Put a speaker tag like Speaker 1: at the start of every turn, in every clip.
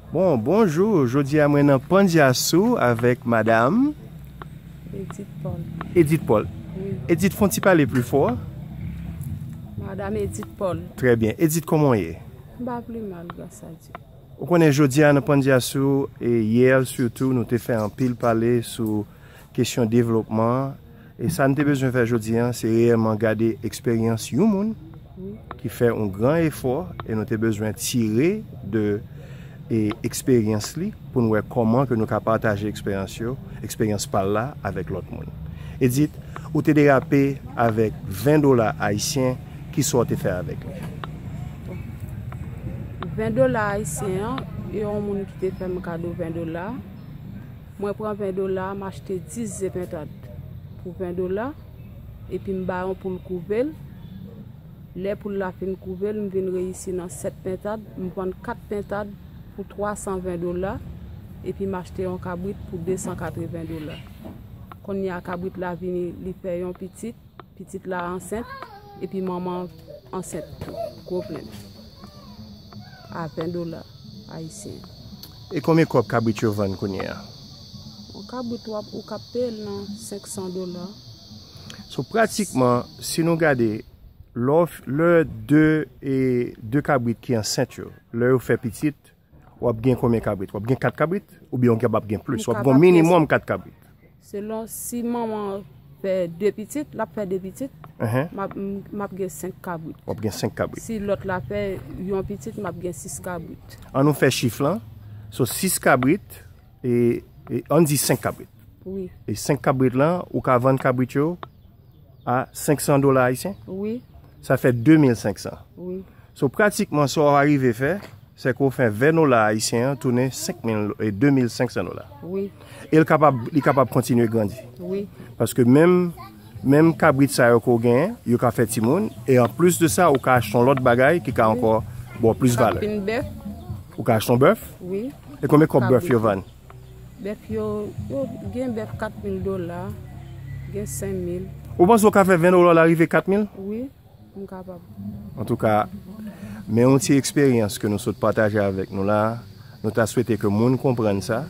Speaker 1: Bon bonjour jodi a mwen nan pandya sou avèk madam
Speaker 2: Edith Paul Edith Paul wi
Speaker 1: Edith fon ti
Speaker 2: pale pli
Speaker 1: fò
Speaker 2: madam Edith Paul trè byen Edith kòman
Speaker 1: w ye m pa pli mal
Speaker 2: gras a Dye ou konnen jodi
Speaker 1: a nan pandya sou e yè sitou nou te fè anpil pale sou kesyon devlopman. E sa n te bezwen fè jodi an, se reyèlman gade eksperyans yon moun ki fè yon gran efò e nou te bezwen tire de eksperyans li pou n wè kòman ke nou ka pataje eksperyans yo, eksperyans pa l la avèk lòt moun. Edith, ou te derape avèk 20 dola ayisyen, kisa w te fè avèk li? Bon, 20
Speaker 2: dola ayisyen an, yon moun ki te fè m kado 20 dola. Mwen pran 20 dola m achte 10 ze pentad pou 20 dola epi m ba yon poul kouve l, lè poul la fin kouve l m vin reyisi nan 7 pentad, m vann 4 pentad pou 320 dola epi m achte yon kabrit pou 280 dola. Konnya kabrit la vini li fè yon pitit. Pitit la ansent epi manman ansent tou. Gwo plenn. A 20 dola ayisyen. E konbyen
Speaker 1: kòb kabrit yo vann kounye a? Yon
Speaker 2: kabrit wap ou ka peye l nan 500 dola.
Speaker 1: So pratikman si nou gade lè 2 kabrit ki ansent yo lè yo fè pitit. Wap gen konbyen kabrit? Wap gen 4 kabrit? Oubyen ou kapab gen plis? Wap gen minimum 4 kabrit? Selon si
Speaker 2: manman an fè 2 pitit, lap fè 2 pitit, map gen 5 kabrit. Wap gen 5 kabrit. Si
Speaker 1: lòt la fè
Speaker 2: yon pitit, map gen 6 kabrit. An nou fè chif
Speaker 1: lan, so 6 kabrit, e an di 5 kabrit. Wi. E 5
Speaker 2: kabrit
Speaker 1: lan, ou ka vann kabrit yo? A 500 dola ayisyen? Wi. Sa
Speaker 2: fè 2500?
Speaker 1: Wi. So
Speaker 2: pratikman
Speaker 1: sa w arive fè, se ke w fè 20 dola ayisyen an tounen 2500 dola? Wi.
Speaker 2: E
Speaker 1: li kapab kontinye grandi? Wi. Paske
Speaker 2: menm,
Speaker 1: menm kabrit sa yo ke w genyen, yo ka fè timoun, e an plis de sa, ou ka achte yon lòt bagay ki ka ankò ba w plis valè. Ou ka achte yon bèf?
Speaker 2: Wi. Ou ka achte yon
Speaker 1: bèf? Wi. E konbyen
Speaker 2: kòb bèf
Speaker 1: yo vann? Bèf yo,
Speaker 2: yo gen bèf 4 mil dola, gen 5 mil. Ou panse ou ka fè 20
Speaker 1: dola la rive 4 mil? Wi, m
Speaker 2: kapab. Antouka,
Speaker 1: men yon ti eksperyans ke nou sot pataje avèk nou la, nou ta swete ke moun konprann sa,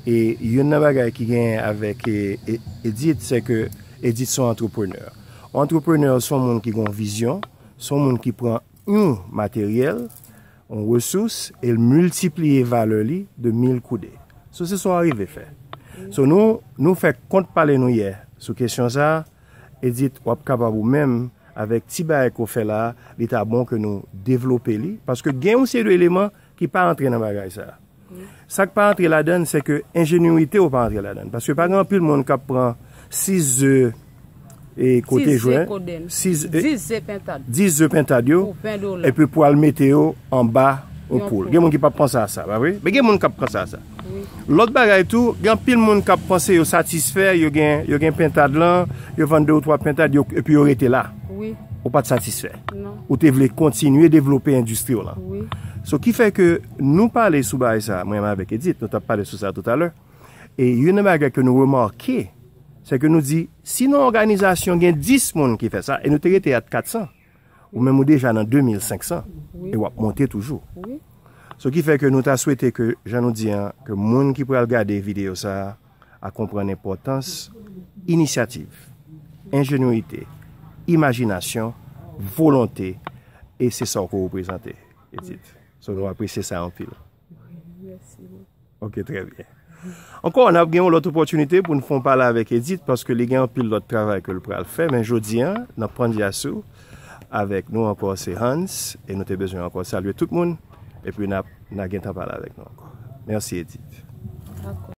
Speaker 1: e youn nan bagay ki gen avèk Edith se ke Edith son antreprenè. Antreprenè son moun ki gon vizyon, son moun ki pran yon materyèl, Yon resous e l miltipliye valè li de mil kou de. So se sa w arive fè. So nou nou fè kont pale nou yè sou kesyon sa a, Edit w ap kapab ou menm avèk ti bagay ke w fè la a, li ta bon ke nou devlope li paske gen yon seri de eleman ki pa antre nan bagay sa a. Sa k pa antre ladan l se ke enjenyite w pa antre ladan l. Paske pa gen anpil moun k ap pran 6 ze e kote jwen, 10 ze pentad yo epi pou al mete yo anba yon poul. Gen moun ki p ap panse a sa, pa vre? Men gen moun k ap panse a sa. Lòt bagay tou, gen anpil moun k ap panse yo satisfè, yo gen pentad lan, yo vann de ou twa pentad epi yo rete la. Ou pa t
Speaker 2: satisfè.
Speaker 1: Non. Ou te vle
Speaker 2: kontinye
Speaker 1: devlope endistri w lan. Wi. So ki fè
Speaker 2: ke
Speaker 1: nou pale sou bagay sa, mwen menm avèk Edit, nou t ap pale sou sa toutalè, e youn nan bagay ke nou remake, se ke nou di, si nan yon òganizasyon gen 10 moun ki fè sa, e nou te rete at 400, ou menm ou deja nan 2500, e w ap monte toujou. Wi. So
Speaker 2: ki fè ke
Speaker 1: nou ta swete ke, jan nou di an, ke moun ki pral gade videyo sa, a konprann enpòtans inisyativ, enjenyite, imajinasyon, volonte e se sa w ko reprezante Edith. So nou apresye sa anpil. Mèsi
Speaker 2: bòkò. Ok,
Speaker 1: trè byen. Ankò, n ap gen yon lòt opòtinite pou n fon pale avèk Edith paske li gen anpil lòt travay ke l pral fè men jodi an nan Pandyasou avèk nou ankò se Hans e nou te bezwen ankò salye tout moun epi n ap na gen tan pale avèk nou ankò. Mèsi Edith. Dakò.